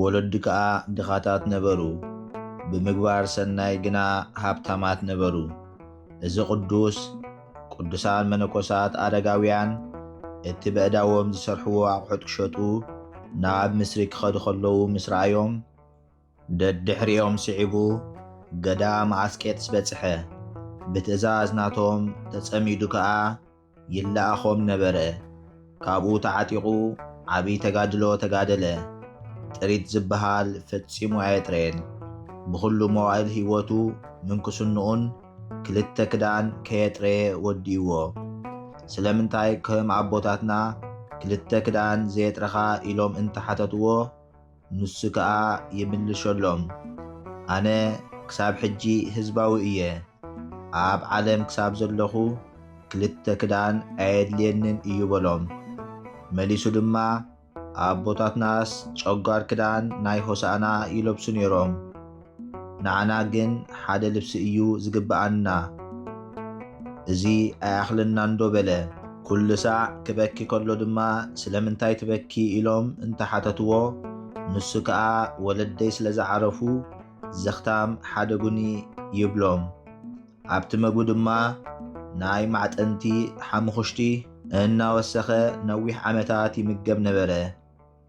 ወለዱ ከኣ ድኻታት ነበሩ፣ ብምግባር ሰናይ ግና ሃብታማት ነበሩ። እዚ ቅዱስ፣ ቅዱሳን መነኮሳት ኣረጋውያን እቲ በእዳዎም ዝሰርሕዎ ኣቑሑት ክሸጡ ናብ ምስሪ ክኸዱ ከለዉ ምስ ረኣዮም፣ ደድሕሪኦም ስዒቡ ገዳም ኣስቄጥስ በጽሐ፣ ብትእዛዝ ናቶም ተጸሚዱ ከኣ፣ ይለኣኾም ነበረ። ካብኡ ተዓጢቑ ዓብይ ተጋድሎ ተጋደለ። ጥሪት ዝብሃል ፈጺሙ ኣየጥረየን። ብኹሉ መዋእል ህይወቱ ምንኩስንኡን ክልተ ክዳን ከየጥረየ ወዲኡዎ። ስለምንታይ ከም ኣቦታትና ክልተ ክዳን ዘየጥረኻ ኢሎም እንተሓተቱዎ፣ ንሱ ከኣ ይምልሸሎም ኣነ ክሳብ ሕጂ ህዝባዊ እየ ኣብ ዓለም ክሳብ ዘለኹ ክልተ ክዳን ኣየድልየንን እዩ በሎም መሊሱ ድማ ኣቦታትናስ ጨጓር ክዳን ናይ ሆሳእና ይለብሱ ኔሮም ንዓና ግን ሓደ ልብሲ እዩ ዝግብኣና እዚ ኣይኣኽለናንዶ በለ። ኩሉ ሳዕ ክበኪ ከሎ ድማ ስለምንታይ ትበኪ ኢሎም እንተሓተትዎ ንሱ ከኣ ወለደይ ስለ ዝዓረፉ ዘኽታም ሓደጉኒ ይብሎም። ኣብቲ መግቡ ድማ ናይ ማዕጠንቲ ሓሙኹሽቲ እናወሰኸ ነዊሕ ዓመታት ይምገብ ነበረ።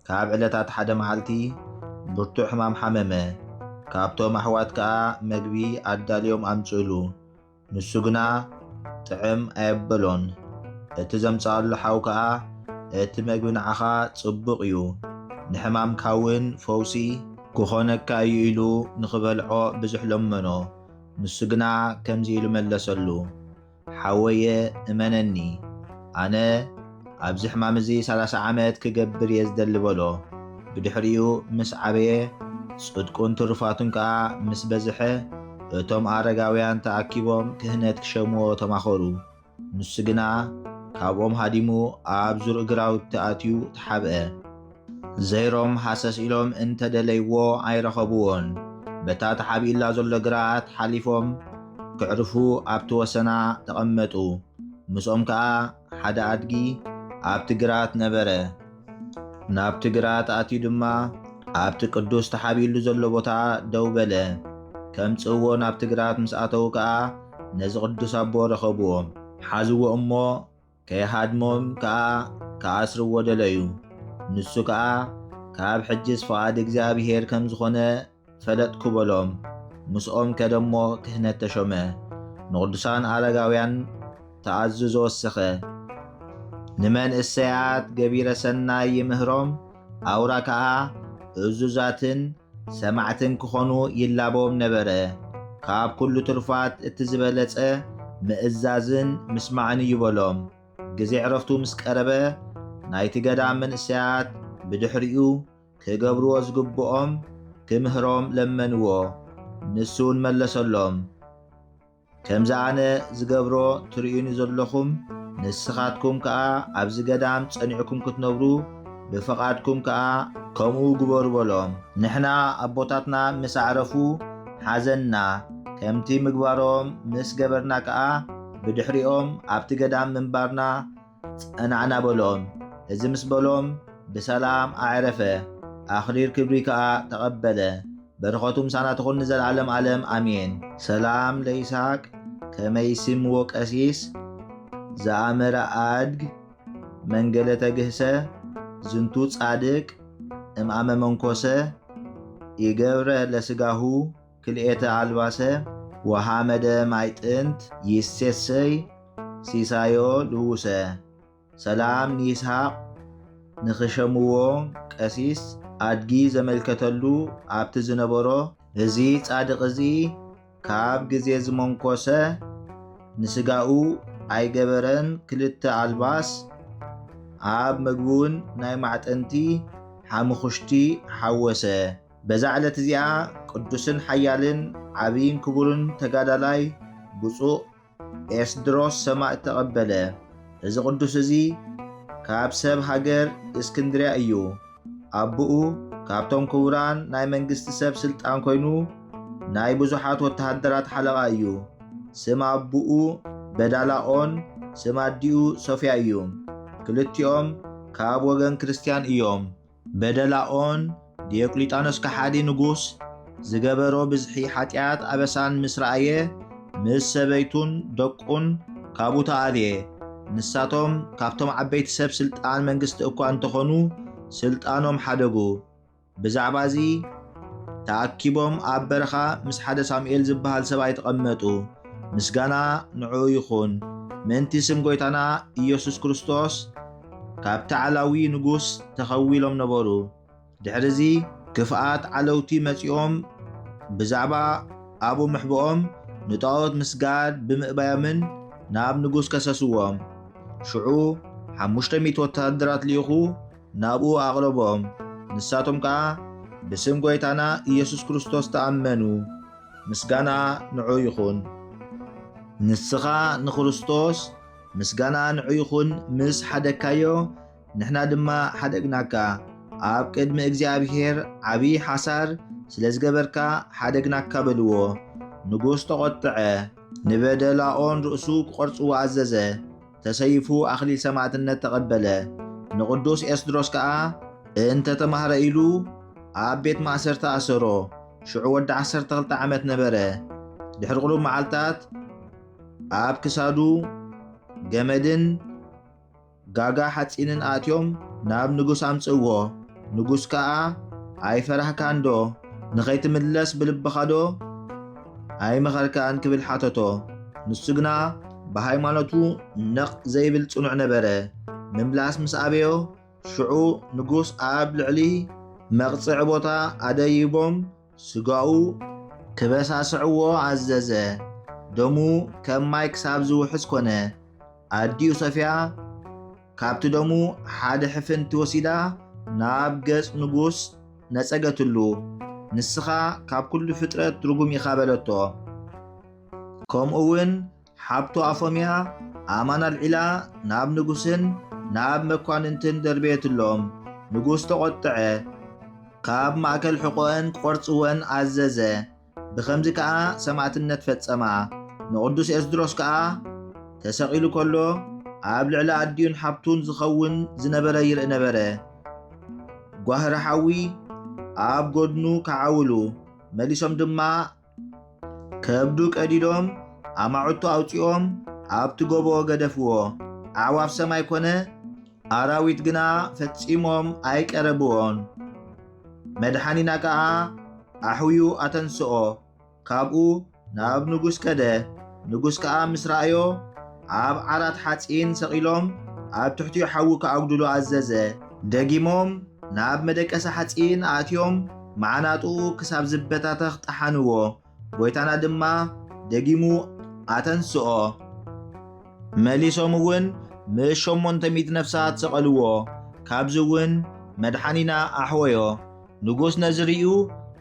ካብ ዕለታት ሓደ መዓልቲ ብርቱዕ ሕማም ሓመመ። ካብቶም ኣሕዋት ከኣ መግቢ ኣዳልዮም ኣምጽእሉ። ንሱ ግና ጥዕም ኣየበሎን። እቲ ዘምጽኣሉ ሓው ከኣ እቲ መግቢ ንዓኻ ጽቡቕ እዩ፣ ንሕማምካ እውን ፈውሲ። ክኾነካ እዩ ኢሉ ንኽበልዖ ብዙሕ ለመኖ። ንሱ ግና ከምዚ ኢሉ መለሰሉ። ሓወየ እመነኒ ኣነ ኣብዚ ሕማም እዚ ሰላሳ ዓመት ክገብር እየ ዝደሊ በሎ። ብድሕሪኡ ምስ ዓበየ ጽድቁን ትሩፋቱን ከኣ ምስ በዝሐ እቶም ኣረጋውያን ተኣኪቦም ክህነት ክሸምዎ ተማኸሩ። ንሱ ግና ካብኦም ሃዲሙ ኣብ ዙርእ ግራውቲ ኣትዩ ተሓብአ። ዘይሮም ሃሰስ ኢሎም እንተ ደለይዎ ኣይረኸብዎን። በታ ተሓቢኡላ ዘሎ ግራት ሓሊፎም ከዕርፉ ኣብቲ ወሰና ተቐመጡ። ምስኦም ከኣ ሓደ ኣድጊ ኣብቲ ግራት ነበረ። ናብቲ ግራት ኣትዩ ድማ ኣብቲ ቅዱስ ተሓቢኡሉ ዘሎ ቦታ ደው በለ። ከምጽእዎ ናብቲ ግራት ምስ ኣተዉ ከኣ ነዚ ቅዱስ ኣቦ ረኸብዎ። ሓዝዎ እሞ ከይሃድሞም ከኣ ክኣስርዎ ደለዩ። ንሱ ከኣ፣ ካብ ሕጅስ ፍቓድ እግዚኣብሄር ከም ዝኾነ ፈለጥኩ በሎም። ምስኦም ከደ እሞ ክህነት ተሾመ። ንቕዱሳን ኣረጋውያን ተኣዝዞ ወሰኸ። ንመንእሰያት ገቢረ ሰናይ ይምህሮም፣ ኣውራ ከኣ እዙዛትን ሰማዕትን ክኾኑ ይላበዎም ነበረ። ካብ ኩሉ ትሩፋት እቲ ዝበለጸ ምእዛዝን ምስማዕን እዩ በሎም። ግዜ ዕረፍቱ ምስ ቀረበ ናይቲ ገዳም መንእሰያት ብድሕሪኡ ክገብርዎ ዝግብኦም ክምህሮም ለመንዎ። ንሱውን መለሰሎም። ከምዚ ኣነ ዝገብሮ ትርእዩኒ ዘለኹም ንስኻትኩም ከኣ ኣብዚ ገዳም ጸኒዕኩም ክትነብሩ ብፍቓድኩም ከኣ ከምኡ ግበሩ በሎም። ንሕና ኣቦታትና ምስ ኣዕረፉ ሓዘንና፣ ከምቲ ምግባሮም ምስ ገበርና ከኣ ብድሕሪኦም ኣብቲ ገዳም ምንባርና ጸናዕና በሎም። እዚ ምስ በሎም ብሰላም ኣዕረፈ፣ ኣኽሊል ክብሪ ከኣ ተቐበለ። በረኸቱ ምሳና ትኹን ንዘለዓለም ኣለም ኣሜን። ሰላም ለይስሃቅ ከመ ይሲምዎ ቀሲስ ዘኣመረ ኣድግ መንገለ ተግህሰ ዝንቱ ጻድቅ እምኣመ መንኮሰ ኢገብረ ለስጋሁ ክልኤተ ኣልባሰ ወሃመደ ማይ ጥንት ይሴሰይ ሲሳዮ ልውሰ። ሰላም ንይስሃቅ ንክሸምዎ ቀሲስ ኣድጊ ዘመልከተሉ ኣብቲ ዝነበሮ። እዚ ጻድቅ እዚ ካብ ግዜ ዝመንኮሰ ንስጋኡ ኣይገበረን ክልተ ኣልባስ ኣብ መግቡን ናይ ማዕጠንቲ ሓሙኹሽቲ ሓወሰ። በዛ ዕለት እዚኣ ቅዱስን ሓያልን ዓብይን ክቡርን ተጋዳላይ ብፁዕ ኤስድሮስ ሰማእት ተቐበለ። እዚ ቅዱስ እዚ ካብ ሰብ ሃገር እስክንድርያ እዩ። ኣቦኡ ካብቶም ክቡራን ናይ መንግስቲ ሰብ ስልጣን ኮይኑ ናይ ብዙሓት ወተሃደራት ሓለቓ እዩ። ስም ኣቦኡ በዳላኦን ስም ኣዲኡ ሶፍያ እዩ። ክልቲኦም ካብ ወገን ክርስትያን እዮም። በደላኦን ዲዮቅሊጣኖስ ከሓዲ ንጉስ ዝገበሮ ብዝሒ ሓጢኣት ኣበሳን ምስ ረኣየ ምስ ሰበይቱን ደቁን ካብኡ ተኣልየ። ንሳቶም ካብቶም ዓበይቲ ሰብ ስልጣን መንግስቲ እኳ እንተኾኑ ስልጣኖም ሓደጉ። ብዛዕባ እዚ ተኣኪቦም ኣብ በረኻ ምስ ሓደ ሳሙኤል ዝበሃል ሰብኣይ ተቐመጡ። ምስጋና ንዕኡ ይኹን ምእንቲ ስም ጎይታና ኢየሱስ ክርስቶስ ካብቲ ዓላዊ ንጉስ ተኸዊሎም ነበሩ። ድሕርዚ ክፍኣት ዓለውቲ መጺኦም ብዛዕባ ኣብኡ ምሕብኦም ንጣኦት ምስጋድ ብምእባዮምን ናብ ንጉስ ከሰስዎም። ሽዑ ሓሙሽተ ሚእቲ ወተሃደራት ልኢኹ ናብኡ ኣቕረቦም። ንሳቶም ከኣ ብስም ጐይታና ኢየሱስ ክርስቶስ ተኣመኑ። ምስጋና ንዑኡ ይኹን። ንስኻ ንክርስቶስ ምስጋና ንዑ ይኹን ምስ ሓደግካዮ ንሕና ድማ ሓደግናካ ኣብ ቅድሚ እግዚኣብሔር ዓብዪ ሓሳር ስለ ዝገበርካ ሓደግናካ በልዎ። ንጉሥ ተቖጥዐ፣ ንበደል ኣኦን ርእሱ ክቖርጽዎ ኣዘዘ፣ ተሰይፉ ኣኽሊል ሰማዕትነት ተቐበለ። ንቕዱስ ኤስድሮስ ከኣ እንተ ተማህረ ኢሉ ኣብ ቤት ማእሰርቲ ኣሰሮ፣ ሽዑ ወዲ ዓሰርተ ክልተ ዓመት ነበረ። ድሕሪ ቁሩብ መዓልታት ኣብ ክሳዱ ገመድን ጋጋ ሓጺንን ኣእትዮም ናብ ንጉስ ኣምጽእዎ። ንጉስ ከኣ ኣይፈራህካንዶ? ንኸይትምለስ ብልብኻዶ ኣይመኸርካን? ክብል ሓተቶ። ንሱ ግና ብሃይማኖቱ ነቕ ዘይብል ጽኑዕ ነበረ። ምምላስ ምስ ኣበዮ፣ ሽዑ ንጉስ ኣብ ልዕሊ መቕጽዒ ቦታ ኣደይቦም ስጋኡ ክበሳስዕዎ ኣዘዘ። ደሙ ከም ማይ ክሳብ ዝውሕዝ ኮነ። ኣዲኡ ሶፍያ ካብቲ ደሙ ሓደ ሕፍንቲ ወሲዳ ናብ ገጽ ንጉስ ነጸገትሉ። ንስኻ ካብ ኩሉ ፍጥረት ርጉም ኢኻ በለቶ። ከምኡውን ሓብቱ ኣፎምያ ኣእማን ኣልዒላ ናብ ንጉስን ናብ መኳንንትን ደርበየትሎም። ንጉስ ተቖጥዐ፣ ካብ ማእከል ሕቖኤን ክቖርጽወን ኣዘዘ። ብኸምዚ ከኣ ሰማእትነት ፈጸማ። ንቕዱስ ኤስድሮስ ከኣ ተሰቒሉ ከሎ ኣብ ልዕሊ ኣዲኡን ሓብቱን ዝኸውን ዝነበረ ይርኢ ነበረ። ጓህሪ ሓዊ ኣብ ጎድኑ ከዓውሉ፣ መሊሶም ድማ ከብዱ ቀዲዶም ኣማዕቱ ኣውፂኦም ኣብቲ ጎቦ ገደፍዎ። ኣዕዋፍ ሰማይ ኮነ ኣራዊት ግና ፈጺሞም ኣይቀረብዎን። መድሓኒና ከኣ ኣሕውዩ ኣተንስኦ። ካብኡ ናብ ንጉስ ከደ። ንጉስ ከኣ ምስ ረኣዮ ኣብ ዓራት ሓጺን ሰቒሎም ኣብ ትሕቲኡ ሓዊ ክኣጉድሉ ኣዘዘ። ደጊሞም ናብ መደቀሲ ሓጺን ኣእትዮም መዓናጡኡ ክሳብ ዝበታተኽ ጠሓንዎ። ጎይታና ድማ ደጊሙ ኣተንስኦ። መሊሶም እውን ምስ ሸሞንተ ሚእቲ ነፍሳት ሰቐልዎ። ካብዚ እውን መድሓኒና ኣሕወዮ። ንጉስ ነዚ ርእዩ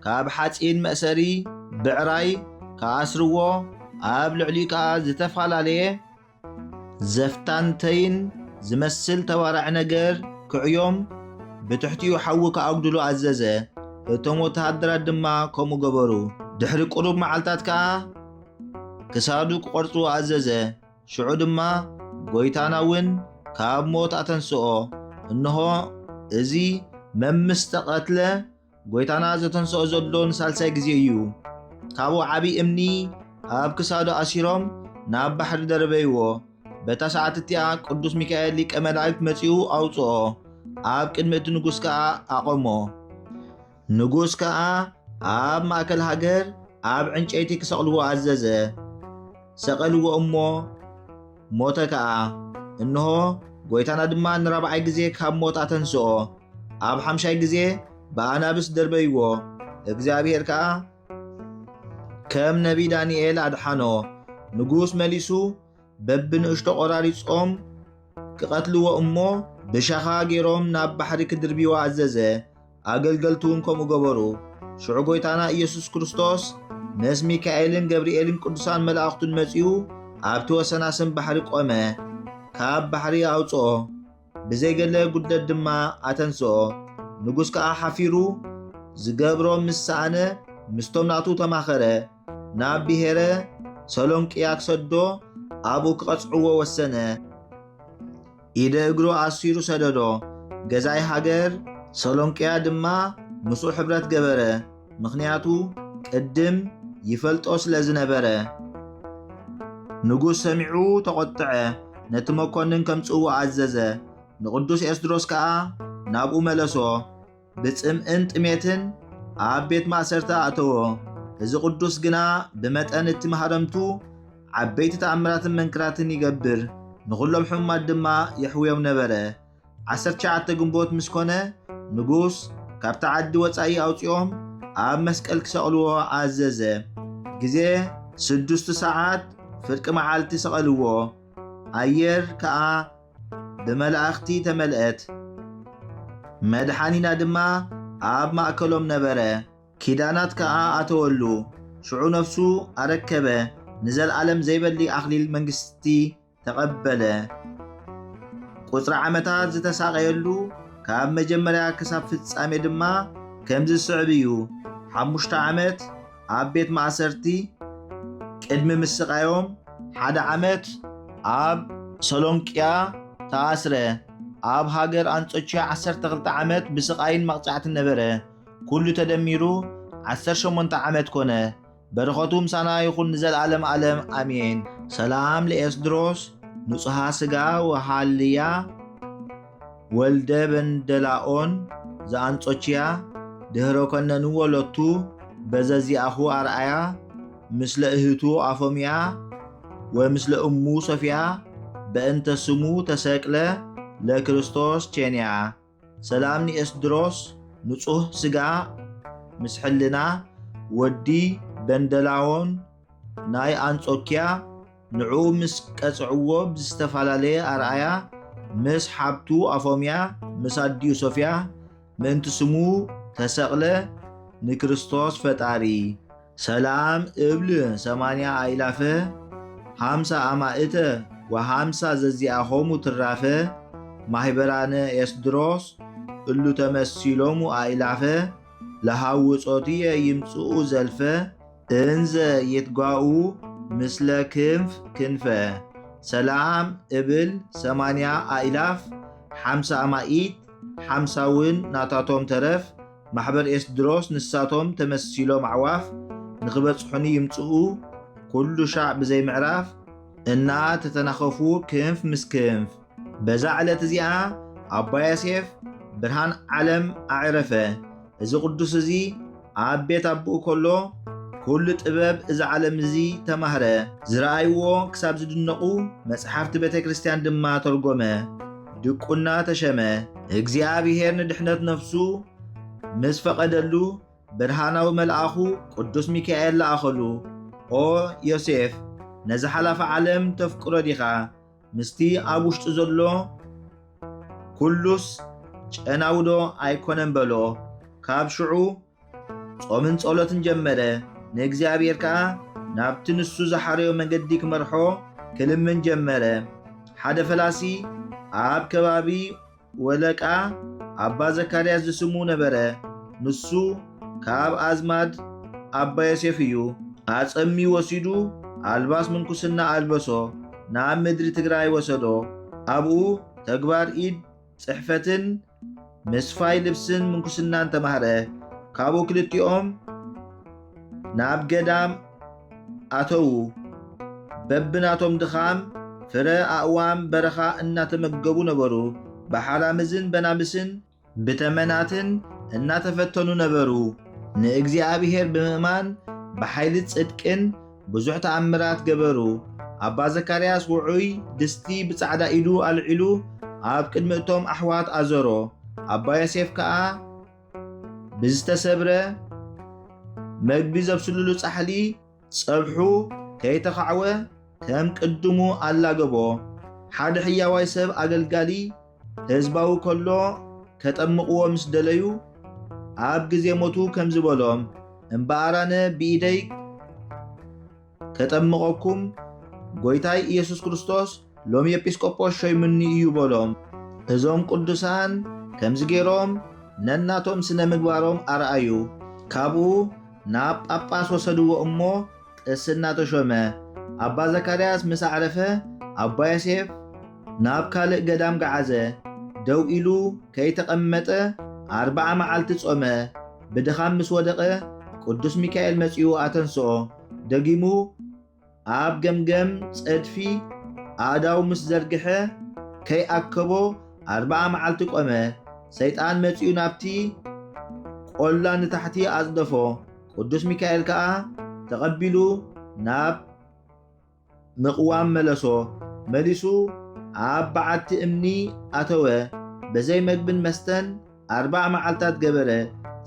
ካብ ሓጺን መእሰሪ ብዕራይ ክኣስርዎ ኣብ ልዕሊኡ ከኣ ዝተፈላለየ ዘፍታንተይን ዝመስል ተባራዒ ነገር ክዕዮም ብትሕቲኡ ሓዊ ክኣጉድሉ ኣዘዘ። እቶም ወተሃደራት ድማ ከምኡ ገበሩ። ድሕሪ ቁሩብ መዓልታት ከኣ ክሳዱ ክቖርጽዎ ኣዘዘ። ሽዑ ድማ ጐይታና እውን ካብ ሞት ኣተንስኦ። እንሆ እዚ መምስ ተቐትለ ጐይታና ዘተንስኦ ዘሎ ንሳልሳይ ግዜ እዩ። ካብኡ ዓብዪ እምኒ ኣብ ክሳዱ ኣሲሮም ናብ ባሕሪ ደርበይዎ። በታ ሰዓት እቲኣ ቅዱስ ሚካኤል ሊቀ መላእክት መጺኡ ኣውጽኦ፣ ኣብ ቅድሚ እቲ ንጉስ ከኣ ኣቖሞ። ንጉስ ከኣ ኣብ ማእከል ሃገር ኣብ ዕንጨይቲ ክሰቕልዎ ኣዘዘ። ሰቐልዎ እሞ ሞተ ከኣ። እንሆ ጐይታና ድማ ንራብዓይ ግዜ ካብ ሞት ኣተንስኦ። ኣብ ሓምሻይ ግዜ ብኣናብስ ደርበይዎ፣ እግዚኣብሄር ከኣ ከም ነቢ ዳንኤል ኣድሓኖ። ንጉስ መሊሱ በብንእሽቶ ቈራሪጾም ክቐትልዎ እሞ ብሻኻ ገይሮም ናብ ባሕሪ ክድርብይዎ ኣዘዘ። ኣገልገልቱ እውን ከምኡ ገበሩ። ሽዑ ጎይታና ኢየሱስ ክርስቶስ ምስ ሚካኤልን ገብርኤልን ቅዱሳን መላእኽቱን መጺኡ ኣብቲ ወሰናስን ባሕሪ ቆመ፣ ካብ ባሕሪ ኣውጽኦ፣ ብዘይገለ ጉድለት ድማ ኣተንስኦ። ንጉሥ ከኣ ሓፊሩ ዝገብሮ ምስ ሰኣነ ምስቶም ናቱ ተማኸረ፣ ናብ ብሔረ ሰሎንቅያ ክሰዶ ኣብኡ ክቐጽዕዎ ወሰነ። ኢደ እግሩ ኣሲሩ ሰደዶ። ገዛኢ ሃገር ሰሎንቅያ ድማ ምስኡ ሕብረት ገበረ፣ ምኽንያቱ ቅድም ይፈልጦ ስለ ዝነበረ። ንጉስ ሰሚዑ ተቖጥዐ፣ ነቲ መኰንን ከምጽእዎ ኣዘዘ፣ ንቕዱስ ኤስድሮስ ከኣ ናብኡ መለሶ። ብጽምእን ጥሜትን ኣብ ቤት ማእሰርቲ ኣእተዎ። እዚ ቅዱስ ግና ብመጠን እቲ መሃረምቱ ዓበይቲ ተኣምራትን መንክራትን ይገብር፣ ንዅሎም ሕሙማት ድማ የሕውዮም ነበረ። ዓሰርተ ትሽዓተ ግንቦት ምስ ኮነ ንጉስ ካብቲ ዓዲ ወጻኢ ኣውጺኦም ኣብ መስቀል ክሰቕልዎ ኣዘዘ። ግዜ ስዱስቲ ሰዓት ፍርቂ መዓልቲ ሰቐልዎ። ኣየር ከኣ ብመላእኽቲ ተመልአት። መድሓኒና ድማ ኣብ ማእከሎም ነበረ፣ ኪዳናት ከኣ ኣተወሉ። ሽዑ ነፍሱ ኣረከበ፣ ንዘልኣለም ዘይበሊ ኣኽሊል መንግሥቲ ተቐበለ። ቁጽሪ ዓመታት ዝተሳቐየሉ ካብ መጀመርያ ክሳብ ፍጻሜ ድማ ከምዚ ዝስዕብ እዩ፣ ሓሙሽተ ዓመት፣ ኣብ ቤት ማእሰርቲ ቅድሚ ምስቓዮም ሓደ ዓመት ኣብ ሰሎንቅያ ተኣስረ። ኣብ ሃገር ኣንጾችያ ዓሰርተ ክልተ ዓመት ብስቓይን መቕጻዕትን ነበረ። ኩሉ ተደሚሩ ዓሰርተ ሸሞንተ ዓመት ኮነ። በረኸቱ ምሳና ይኹን ንዘልኣለም ኣለም ኣሜን። ሰላም ለኤስድሮስ ንጹሃ ስጋ ወሃልያ። ወልደ በንደላኦን ዘኣንጾችያ ድህረ ኮነንዎ ሎቱ በዘዚኣኹ ኣርኣያ ምስለ እህቱ ኣፎምያ ወምስለ እሙ ሶፍያ በእንተ ስሙ ተሰቅለ ለክርስቶስ ቼንያ ሰላም ንኤስድሮስ ንጹህ ስጋ ምስ ሕልና ወዲ በንደላዎን ናይ ኣንጾኪያ ንዑ ምስ ቀጽዕዎ ብዝተፈላለየ ኣርኣያ ምስ ሓብቱ ኣፎምያ ምስ ኣዲኡ ሶፍያ ምእንቲ ስሙ ተሰቅለ ንክርስቶስ ፈጣሪ ሰላም እብል ሰማንያ ኣእላፈ ሃምሳ ኣማእተ ወሃምሳ ዘዚኣሆሙ ትራፈ ማህበራነ ኤስድሮስ እሉ ተመሲሎሙ ኣእላፈ ለሃውጾትየ ይምጽኡ ዘልፈ እንዘ የትጓኡ ምስለ ክንፍ ክንፈ ሰላም እብል ሰማንያ ኣኢላፍ ሓምሳ ኣማኢት ሓምሳውን ናታቶም ተረፍ ማሕበር ኤስድሮስ ንሳቶም ተመሲሎም ኣዕዋፍ ንኽበጽሑኒ ይምጽኡ ኩሉ ሻዕ ብዘይ ምዕራፍ እናተተናኸፉ ክንፍ ምስ ክንፍ በዛ ዕለት እዚኣ ኣባ ዮሴፍ ብርሃን ዓለም ኣዕረፈ። እዚ ቅዱስ እዚ ኣብ ቤት ኣቦኡ ከሎ ኩሉ ጥበብ እዚ ዓለም እዚ ተማህረ። ዝረኣይዎ ክሳብ ዝድነቑ መጽሓፍቲ ቤተ ክርስቲያን ድማ ተርጎመ፣ ድቁና ተሸመ። እግዚኣብሔር ንድሕነት ነፍሱ ምስ ፈቐደሉ ብርሃናዊ መልኣኹ ቅዱስ ሚካኤል ለኣኸሉ። ኦ ዮሴፍ ነዚ ሓላፊ ዓለም ተፍቅሮ ዲኻ? ምስቲ ኣብ ውሽጡ ዘሎ ኩሉስ ጨናውዶ ኣይኮነን በሎ። ካብ ሽዑ ጾምን ጸሎትን ጀመረ። ንእግዚኣብሔር ከኣ ናብቲ ንሱ ዝሓረዮ መንገዲ ክመርሖ ክልምን ጀመረ። ሓደ ፈላሲ ኣብ ከባቢ ወለቃ ኣባ ዘካርያስ ዝስሙ ነበረ፣ ንሱ ካብ ኣዝማድ ኣባ ዮሴፍ እዩ፣ ኣጸምዩ ወሲዱ ኣልባስ ምንኩስና ኣልበሶ፣ ናብ ምድሪ ትግራይ ወሰዶ፣ ኣብኡ ተግባር ኢድ ጽሕፈትን ምስፋይ ልብስን ምንኩስናን ተማህረ፣ ካብኡ ክልቲኦም። ናብ ገዳም ኣተዉ። በብናቶም ድኻም ፍረ ኣእዋም በረኻ እናተመገቡ ነበሩ። ብሓላምዝን በናብስን ብተመናትን እናተፈተኑ ነበሩ። ንእግዚኣብሔር ብምእማን ብሓይሊ ጽድቅን ብዙሕ ተኣምራት ገበሩ። ኣባ ዘካርያስ ውዑይ ድስቲ ብጻዕዳ ኢዱ ኣልዒሉ ኣብ ቅድሚ እቶም ኣሕዋት ኣዞሮ። ኣባ ዮሴፍ ከኣ ብዝተሰብረ መግቢ ዘብስልሉ ጻሕሊ ጸብሑ ከይተኻዕወ ከም ቅድሙ ኣላገቦ። ሓደ ሕያዋይ ሰብ ኣገልጋሊ ህዝባዊ ከሎ ከጠምቕዎ ምስ ደለዩ ኣብ ግዜ ሞቱ ከምዚ በሎም፣ እምበኣር ኣነ ብኢደይ ከጠምቐኩም ጐይታይ ኢየሱስ ክርስቶስ ሎሚ ኤጲስቆጶስ ሾይሙኒ እዩ በሎም። እዞም ቅዱሳን ከምዚ ገይሮም ነናቶም ስነ ምግባሮም ኣርኣዩ። ካብኡ ናብ ጳጳስ ወሰድዎ እሞ ቅስና ተሾመ። ኣባ ዘካርያስ ምስ ኣዕረፈ ኣባ ዮሴፍ ናብ ካልእ ገዳም ገዓዘ። ደው ኢሉ ከይተቐመጠ ኣርብዓ መዓልቲ ጾመ። ብድኻም ምስ ወደቐ ቅዱስ ሚካኤል መጺኡ ኣተንስኦ። ደጊሙ ኣብ ገምገም ጸድፊ ኣእዳው ምስ ዘርግሐ ከይኣከቦ ኣርብዓ መዓልቲ ቆመ። ሰይጣን መጺኡ ናብቲ ቆላ ንታሕቲ ኣጽደፎ። ቅዱስ ሚካኤል ከኣ ተቐቢሉ ናብ ምቕዋም መለሶ መሊሱ ኣብ በዓቲ እምኒ ኣተወ በዘይ መግብን መስተን ኣርባዕ መዓልታት ገበረ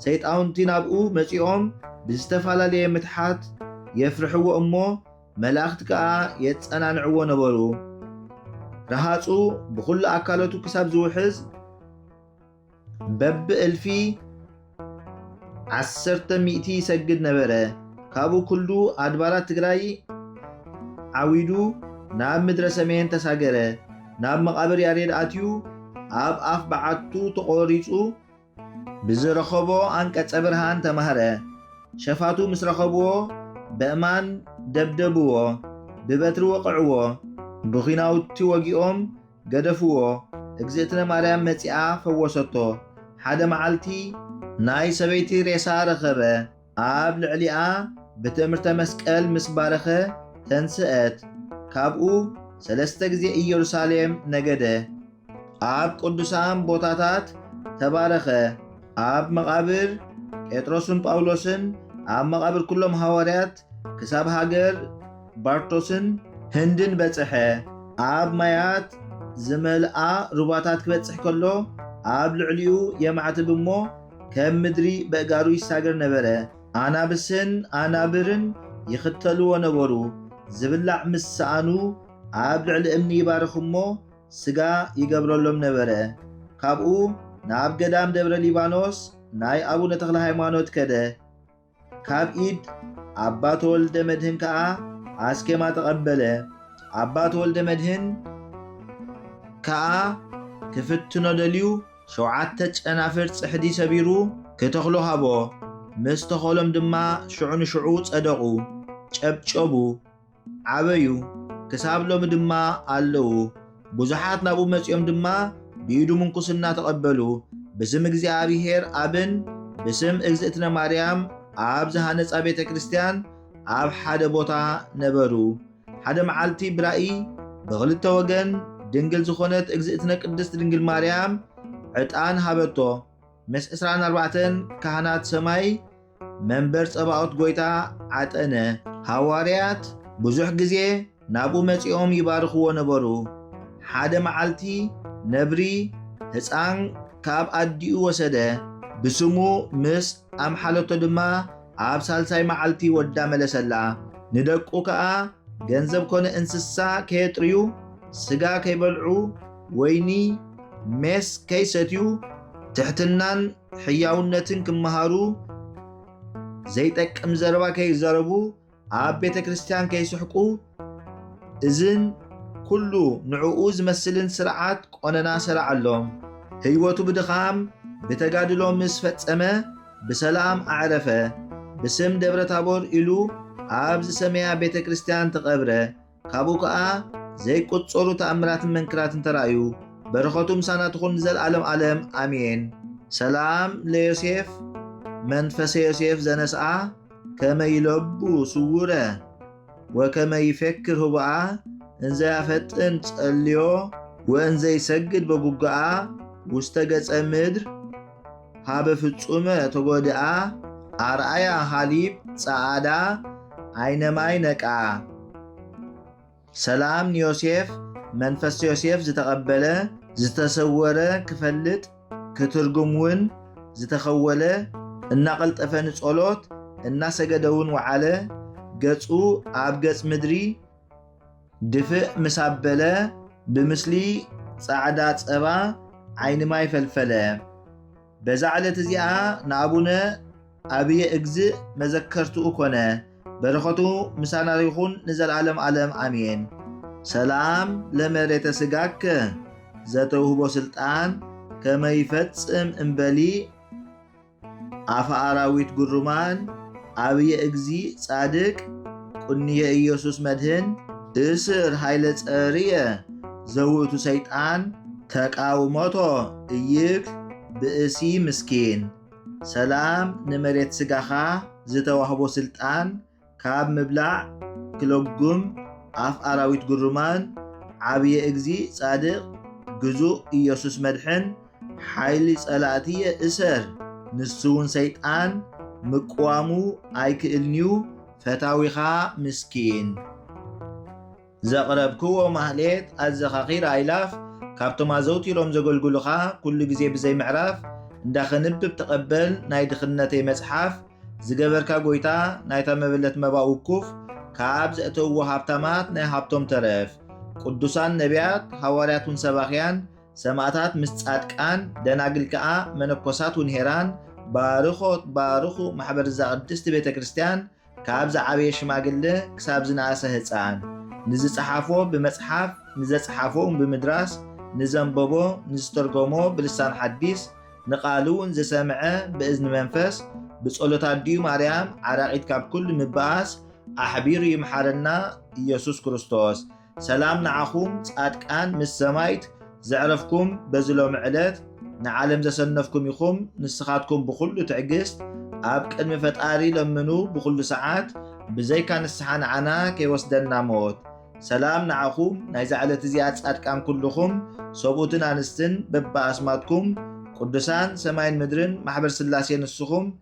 ሰይጣውንቲ ናብኡ መጺኦም ብዝተፋላለየ ምትሓት የፍርሕዎ እሞ መላእኽቲ ከኣ የጸናንዕዎ ነበሩ ረሃጹ ብኹሉ ኣካለቱ ክሳብ ዝውሕዝ በብ እልፊ ዓሰርተ ሚእቲ ይሰግድ ነበረ። ካብኡ ኩሉ ኣድባራት ትግራይ ዓዊዱ ናብ ምድረ ሰሜን ተሳገረ። ናብ መቓብር ያሬድ ኣትዩ ኣብ ኣፍ በዓቱ ተቖሪጹ ብዝረኸቦ ኣንቀጸ ብርሃን ተማህረ። ሸፋቱ ምስ ረኸብዎ በእማን ደብደብዎ፣ ብበትሪ ወቕዕዎ፣ ብኲናውቲ ወጊኦም ገደፍዎ እግዝእትነ ማርያም መጺኣ ፈወሰቶ ሓደ መዓልቲ ናይ ሰበይቲ ሬሳ ረኸበ ኣብ ልዕሊኣ ብትእምርተ መስቀል ምስ ባረኸ ተንስእት ካብኡ ሰለስተ ግዜ ኢየሩሳሌም ነገደ ኣብ ቅዱሳን ቦታታት ተባረኸ ኣብ መቓብር ጴጥሮስን ጳውሎስን ኣብ መቓብር ኩሎም ሃዋርያት ክሳብ ሃገር ባርቶስን ህንድን በጽሐ። ኣብ ማያት ዝመልኣ ሩባታት ክበጽሕ ከሎ ኣብ ልዕሊኡ የማዕትብ እሞ ከም ምድሪ በእጋሩ ይሳገር ነበረ። ኣናብስን ኣናብርን ይኽተልዎ ነበሩ። ዝብላዕ ምስ ሰኣኑ ኣብ ልዕሊ እምኒ ይባርኽ እሞ ስጋ ይገብረሎም ነበረ። ካብኡ ናብ ገዳም ደብረ ሊባኖስ ናይ ኣቡነ ተክለሃይማኖት ከደ። ካብ ኢድ ኣባ ተወልደ መድህን ከኣ ኣስኬማ ተቐበለ። ኣባ ተወልደ መድህን ከኣ ክፍትኖ ደልዩ ሸውዓተ ጨናፍር ጽሕዲ ሰቢሩ ክተኽሎ ሃቦ። ምስ ተኸሎም ድማ ሽዑ ንሽዑ ጸደቑ፣ ጨብጨቡ። ዓበዩ፣ ክሳብ ሎሚ ድማ ኣለዉ። ብዙሓት ናብኡ መጺኦም ድማ ብኢዱ ምንኩስና ተቐበሉ። ብስም እግዚኣብሔር ኣብን ብስም እግዝእትነ ማርያም ኣብ ዝሃነጻ ቤተ ክርስቲያን ኣብ ሓደ ቦታ ነበሩ። ሓደ መዓልቲ ብራእይ ብኽልተ ወገን ድንግል ዝኾነት እግዝእትነ ቅድስት ድንግል ማርያም ዕጣን ሃበቶ። ምስ ዕስራን ኣርባዕተን ካህናት ሰማይ መንበር ጸባኦት ጐይታ ዓጠነ፣ ሃዋርያት ብዙሕ ግዜ ናብኡ መጺኦም ይባርኽዎ ነበሩ። ሓደ መዓልቲ ነብሪ ህጻን ካብ ኣዲኡ ወሰደ፣ ብስሙ ምስ ኣምሓለቶ ድማ ኣብ ሳልሳይ መዓልቲ ወዳ መለሰላ። ንደቁ ከኣ ገንዘብ ኮነ እንስሳ ከየጥርዩ፣ ስጋ ከይበልዑ፣ ወይኒ፣ ሜስ ከይሰትዩ ትሕትናን ሕያውነትን ክመሃሩ፣ ዘይጠቅም ዘረባ ከይዛረቡ፣ ኣብ ቤተ ክርስቲያን ከይስሕቁ፣ እዝን ኩሉ ንዕኡ ዝመስልን ስርዓት ቆነና ሰራዓሎም። ህይወቱ ብድኻም ብተጋድሎ ምስ ፈጸመ ብሰላም ኣዕረፈ። ብስም ደብረታቦር ኢሉ ኣብ ዝሰመያ ቤተ ክርስቲያን ተቐብረ። ካብኡ ከኣ ዘይቁጸሩ ተኣምራትን መንክራትን ተራእዩ በረኸቱ ምሳና ትኹን ንዘልኣለም ኣለም ኣሜን። ሰላም ለዮሴፍ መንፈሰ ዮሴፍ ዘነስኣ ከመ ይለቡ ስውረ ወከመ ይፈክር ህቡኣ እንዘ ያፈጥን ጸልዮ ወእንዘ ይሰግድ በጉግኣ ውስተ ገጸ ምድር ሃበ ፍጹመ ተጎድኣ ኣርኣያ ሃሊብ ጸኣዳ ዓይነማይ ነቃ ሰላም ንዮሴፍ መንፈስ ዮሴፍ ዝተቐበለ ዝተሰወረ ክፈልጥ ክትርጉም ውን ዝተኸወለ እናቐልጠፈ ንጸሎት እናሰገደ ውን ወዓለ ገጹ ኣብ ገጽ ምድሪ ድፍእ ምስ ኣበለ ብምስሊ ጻዕዳ ጸባ ዓይኒ ማይ ፈልፈለ። በዛ ዕለት እዚኣ ንኣቡነ ኣብየ እግዝእ መዘከርትኡ ኮነ። በረኸቱ ምሳና ይኹን ንዘልኣለም ኣለም ኣሜን። ሰላም ለመሬተ ስጋከ ዘተውህቦ ስልጣን ከመይፈጽም እምበሊ ኣፈ ኣራዊት ግሩማን ኣብየ እግዚእ ጻድቅ ቁንየ ኢየሱስ መድህን እስር ኃይለ ጸርየ ዘውእቱ ሰይጣን ተቃውሞቶ እይክ ብእሲ ምስኪን ሰላም ንመሬት ስጋኻ ዝተዋህቦ ስልጣን ካብ ምብላዕ ክለጉም ኣፍ ኣራዊት ግሩማን ዓብየ እግዚ ጻድቅ ግዙእ ኢየሱስ መድሕን ሓይሊ ጸላእትየ እሰር ንሱውን ሰይጣን ምቅዋሙ ኣይክእልንዩ ፈታዊኻ ምስኪን ዘቕረብክዎ ማህሌት ኣዘኻኺር ኣእላፍ ካብቶም ኣዘውቲሮም ዘገልግሉኻ ኩሉ ግዜ ብዘይ ምዕራፍ እንዳ ከንብብ ተቐበል ናይ ድኽነተይ መጽሓፍ ዝገበርካ ጎይታ ናይታ መበለት መባ ውኩፍ ካብ ዘእተውዎ ሃብታማት ናይ ሃብቶም ተረፍ ቅዱሳን ነቢያት ሃዋርያት ውን ሰባኽያን ሰማእታት ምስ ጻድቃን ደናግል ከኣ መነኮሳት ውን ሄራን ባርኾት ባርኹ ማሕበር እዛ ቅድስቲ ቤተ ክርስቲያን ካብ ዝዓበየ ሽማግለ ክሳብ ዝነኣሰ ህጻን፣ ንዝጸሓፎ ብመጽሓፍ፣ ንዘጽሓፎ'ውን ብምድራስ፣ ንዘንበቦ፣ ንዝተርጎሞ ብልሳን ሓዲስ፣ ንቃሉ ንዘሰምዐ ብእዝኒ መንፈስ፣ ብጸሎት ኣዲኡ ማርያም ዓራቒት ካብ ኩሉ ምብኣስ ኣሕቢሩ ይምሓረና ኢየሱስ ክርስቶስ። ሰላም ንዓኹም ጻድቃን ምስ ሰማይት ዘዕረፍኩም በዚ ሎሚ ዕለት ንዓለም ዘሰነፍኩም ኢኹም ንስኻትኩም ብኹሉ ትዕግስት ኣብ ቅድሚ ፈጣሪ ለምኑ ብኹሉ ሰዓት ብዘይካ ንስሓ ንዓና ከይወስደና ሞት ሰላም ንዓኹም ናይዛ ዕለት እዚኣ ጻድቃን ኩልኹም ሰብኡትን ኣንስትን በብኣስማትኩም ቅዱሳን ሰማይን ምድርን ማሕበር ስላሴ ንስኹም